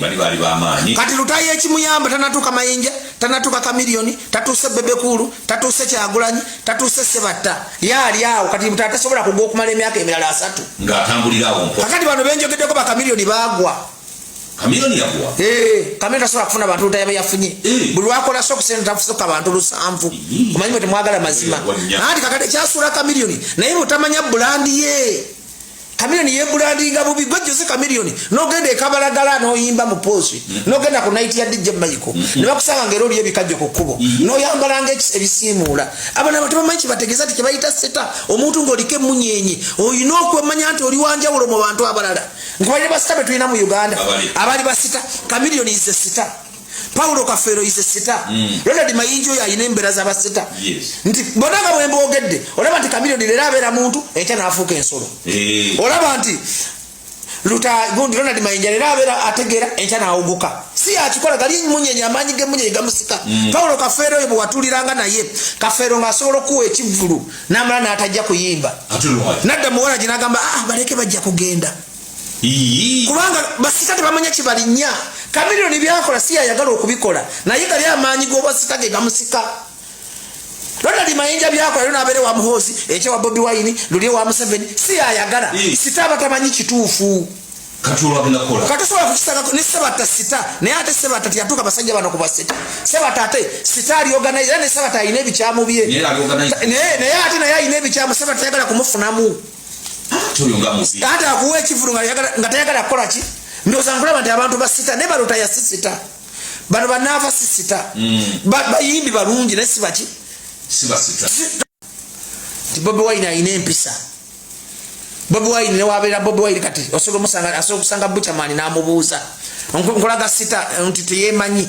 bali bali bamaanyi kati lutayi ekimuyamba tanatuka mayinja tanatuka kamilioni tatuuse bebekulu tatuuse kyagulanyi tatuuse sebatta yaali awo kati mutata tasobola kugwa okumala emyaka emirala asatu ngaatambulirawo mpo kakati bano benjogeddeko bakamilioni bagwa kamilioni yagwa ee kamilioni tasobola kufuna bantu lutayi aba yafunye eh. buli lwakola so okusente tafusuka bantu lusanvu omanyi mwe temwagala mazima anti kakati ekyasuula kamilioni naye mutamanya bulandi ye Chameleone ye brandinga bubi gwe Jose Chameleone nogenda ekabalagala noyimba mu pose mm. nogenda ku night ya DJ Michael mm. ne bakusanga ngero lye bikajjo ku kubo mm. noyambala nge ebisimuula abana batuma manchi bategeza ti kibayita seta omuntu ngolike munyenye oyina okwemanya nti oli wanja ulo mu bantu abalala nkubaye basita betulina mu Uganda abali basita Chameleone is a star paulo kafeero ise sita mm. ronald mayinji oyo alina embeera zabasita nti bona nga bwemboogedde olaba nti kamilioni leero abeera muntu enkya naafuuka ensolo eh. olaba nti lutagundi ronald mayinja leero abeera ategeera enkya naawuguka si akikola gali munyenye amaanyi gemunyenye gamusika mm. paulo kafeero oyo bwewatuliranga naye kafeero ngaasobola okuwa ekivvulu namala naatajja kuyimba nadda muwalagi nagamba ah, baleke bajja kugenda kubanga basika tebamanya kyebalinya kamiliyoni byakola si yayagala okubikola naye gali amaanyi gobasika ge gamusika ronald mayinja byakola lyo nabeere wa muhoozi ekyewa bobi wayini luli ewa museveni si yayagala sita abatamanyi kituufu katusobola kukisangako ne sebata sita naye ate sebata teyatuuka basajja bano kubasita sebata ate sita alioganize era ne sebata alina ebikyamu bye naye ate naye alina ebikyamu sebata tayagala kumufunamu ate akuwa ekivulu nga tayagala kukola ki ndoza nkulaba nti abantu basita naye balota yasisita bano banaava sisita mm. bayimbi balungi naye sibaki nti bobi wine alina empisa bobi wine newabeera bobi wine kati osobola okusanga buchamani namubuuza nkolaga sita nti teyemanyi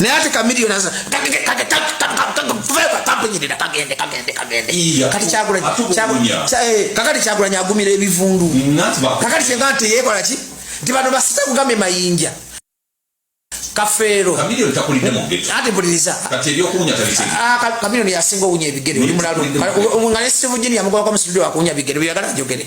naye ate kamiliyoni aza kagende kagende kagende kati kakati kyagulanyi agumira ebivundu kakati kyenga nti yekola ki nti bano basita kugambye mayinja kafeero ate buliriza kamiliyoni yasinga owunya ebigere oli mulalu nga ne sivujini yamugobako musibidi wakuwunya bigere byeyagala njogere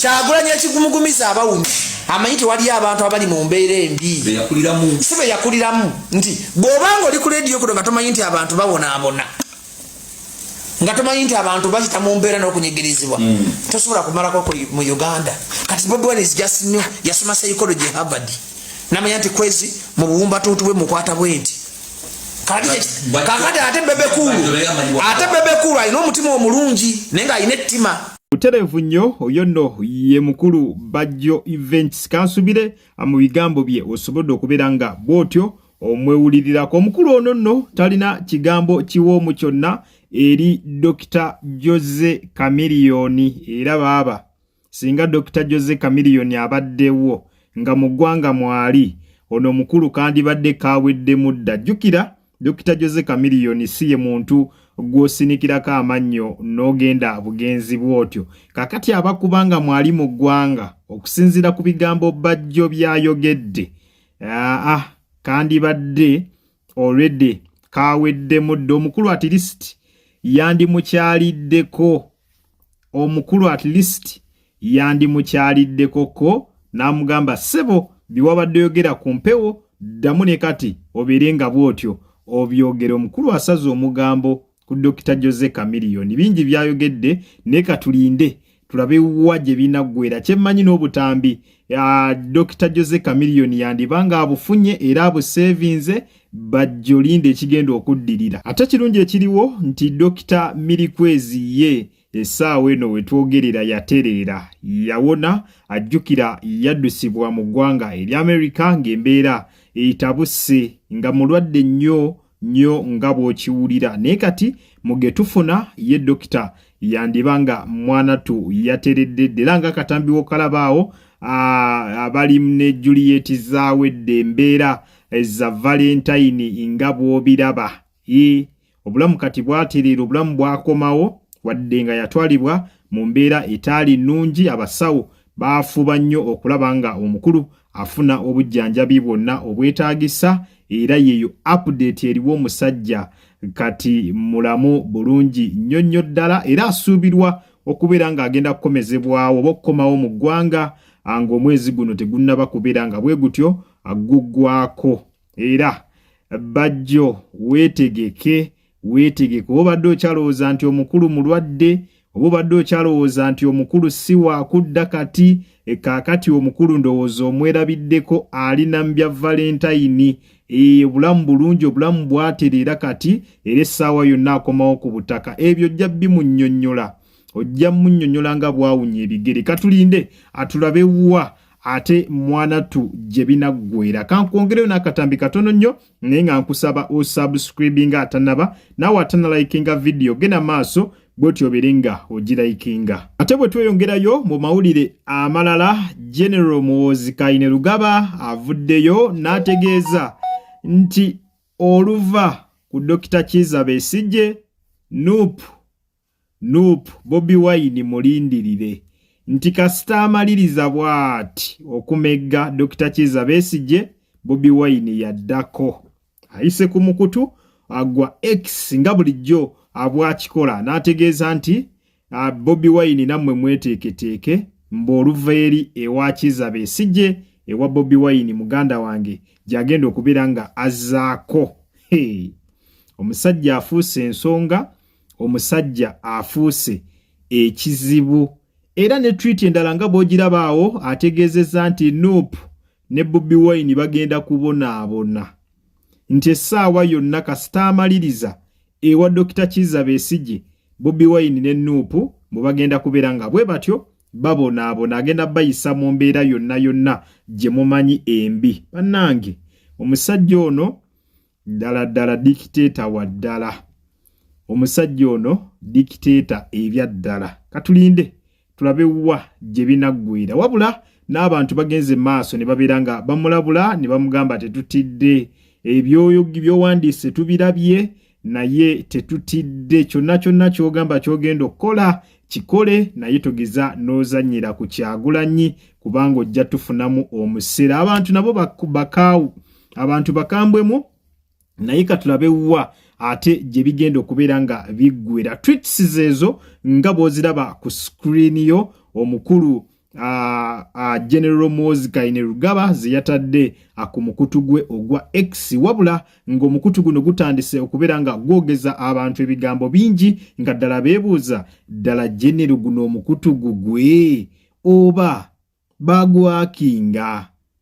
kyagulanyi ekigumugumiza abawumi amanyi tewaliyo abantu abali mu mbeera embi si be yakuliramu nti bw'obanga oli ku lediyo kuno nga tomanyi nti abantu babonaabona nga tomanyi nti abantu bayita mu mbeera n'okunyigirizibwa hmm. tosobola kumalako mu uganda kati bobwan is just new yasoma psychology harvard namanya nti kwezi mu buwumbatuutu bwe mukwata bwenti kakati ate bebekulu ate bebekulu alina omutima omulungi naye nga alina ettima butereevu nnyo oyo nno ye mukulu bajjo events kansubire mu bigambo bye osobodde okubeera nga bw'otyo omwewulirirako omukulu ono nno talina kigambo kiwoomu kyonna eri dokita jose kamiliyoni era baaba singa dokita jose kamiliyoni abaddewo nga mu ggwanga mwali ono omukulu kandibadde kaweddemu dda jjukira Dokita Jose Chameleone si ye muntu gw'osinikirako amannyo n'ogenda bugenzi bw'otyo. Kakati abakuba nga mwali mu ggwanga okusinziira ku bigambo Bajjo by'ayogedde, ah, ah kandibadde already kaaweddemu dda omukulu atirisiti yandimukyaliddeko. omukulu at least yandimukyaliddeko ko n'amugamba ssebo byewabadde oyogera ku mpewo ddamu ne kati obeere nga bw'otyo obyogera omukulu asaze omugambo ku dokita jose kamiliyoni bingi byayogedde naye katulinde tulabe wa gye binaggwera kyemmanyi n'obutambi dokita jose kamiliyoni yandiba nga abufunye era abuseevinze bajjo linda ekigenda okuddirira ate kirungi ekiriwo nti dokita mirikwezi ye essaawa eno wetwogerera yatereera yawona ajjukira yaddusibwa mu ggwanga erya amerika ng'embeera etabuse nga mulwadde nnyo nnyo nga bw'okiwulira naye kati mugetufuna ye dokita yandiba nga mwanatu yateredde ddera nga akatambiwo kalabaawo abali ne juliet zaawedde embeera eza valentine nga bw'obiraba i obulamu kati bwatiriira obulamu bwakomawo wadde nga yatwalibwa mu mbeera etaali nnungi abasawo baafuba nnyo okulaba nga omukulu afuna obujjanjabi bwonna obwetaagisa era yeeyo apudeeti eriwo omusajja kati mulamu bulungi nnyo nnyo ddala era asuubirwa okubeera ng'agenda kukomezebwawo oba okukomawo mu ggwanga ng'omwezi guno tegunnaba kubeera nga bwe gutyo aggugwako era bajjo weetegeke weetegeke oba obadde okyalowooza nti omukulu mulwadde oba obadde okyalowooza nti omukulu si wakudda kati ekaakati eh, omukulu ndowooza omwerabiddeko ali nambya valentayini eyo obulamu bulungi obulamu bwatereera kati era essaawa yonna akomawo ku butaka ebyo ojja bimunyonyola ojja munyonyola nga bwawunya ebigere katulinde atulabe wa ate mwanattu gye binaggwera kankwongereyo n'akatambi katono nnyo naye nga nkusaba osubscribinga atanaba naawe atanalayikinga vidiyo genda maaso bwetyo obeere nga ogirayikinga ate bwe tweyongerayo mu mawulire amalala general muwoozi kayine lugaba avuddeyo n'ategeeza nti oluva ku dokita kiza besijje nup Nup Bobi Wine mulindirire nti kasita amaliriza bwati okumegga Dokita Kiiza Besigye, Bobi Wine yaddako ayise ku mukutu agwa X nga bulijjo abwakikola n'ategeeza nti ah, Bobi Wine nammwe mweteeketeeke mbu oluva eri ewa Kiiza Besigye ewa Bobi Wine muganda wange gy'agenda okubeera nga azzaako. Hey. Omusajja afuuse ensonga. omusajja afuuse ekizibu era ne twiti endala nga bwogirabaawo ategeezezza nti nup ne bobi wine bagenda kubonaabona nti essaawa yonna kasita amaliriza ewa dokita kiza besigye bobi wine ne nup bwe bagenda kubeera nga bwe batyo babonaabona agenda bayisa mu mbeera yonna yonna gye mumanyi embi bannange omusajja ono ddala ddala dikiteeta wa ddala omusajja ono dikiteeta ebya ddala katulinde tulabe wa gye binaggwira wabula n'abantu bagenze maaso ne babeera nga bamulabula ne bamugamba tetutidde ebyoyo byowandiise tubirabye naye tetutidde kyonna kyonna kyogamba kyogenda okukola kikole naye togeza nozanyira ku kyagulanyi kubanga ojja tufunamu omusera abantu nabo bakaawu abantu bakambwemu naye katulabe wa ate gye bigenda okubeera nga biggwera twits zeezo nga bw'oziraba ku screen yo omukulu uh, uh, general mozi kaine rugaba zeyatadde uh, ku mukutu gwe ogwa x wabula ng'omukutu guno gutandise okubeera nga gwogeza abantu ebigambo bingi nga ddala beebuuza ddala genero guno omukutu gugwe oba bagwakinga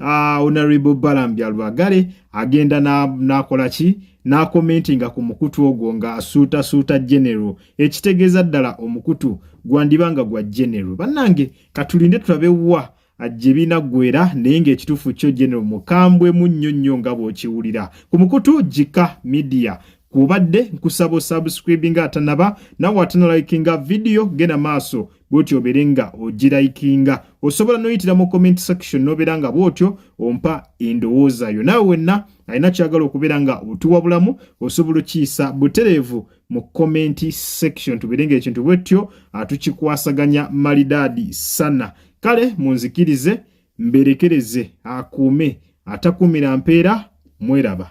Ah, honorable balambya lwagale agenda nakola ki nakomentinga ku mukutu ogwo nga asuuta suuta general ekitegeeza ddala omukutu gwandiba nga gwa general bannange katulinde tulabe wa ajje binaggwera naye ng'ekituufu kyo general mukambwe mu nnyo nnyo nga bw'okiwulira ku mukutu jika media kubadde nkusaba osubscribinga atanaba nawe atanalayikinga vidiyo genda maaso bwotyo obeere nga ogirayikinga osobola noyitira mu comment section nobeera nga bwotyo ompa endowooza yo nawe wenna alina kyagala okubeera nga otuwabulamu osobola okiyisa butereevu mu comment section tubeere nga ekintu bwetyo atukikwasaganya malidaadi sana kale munzikirize mberekereze akuume atakuumira mpeera mweraba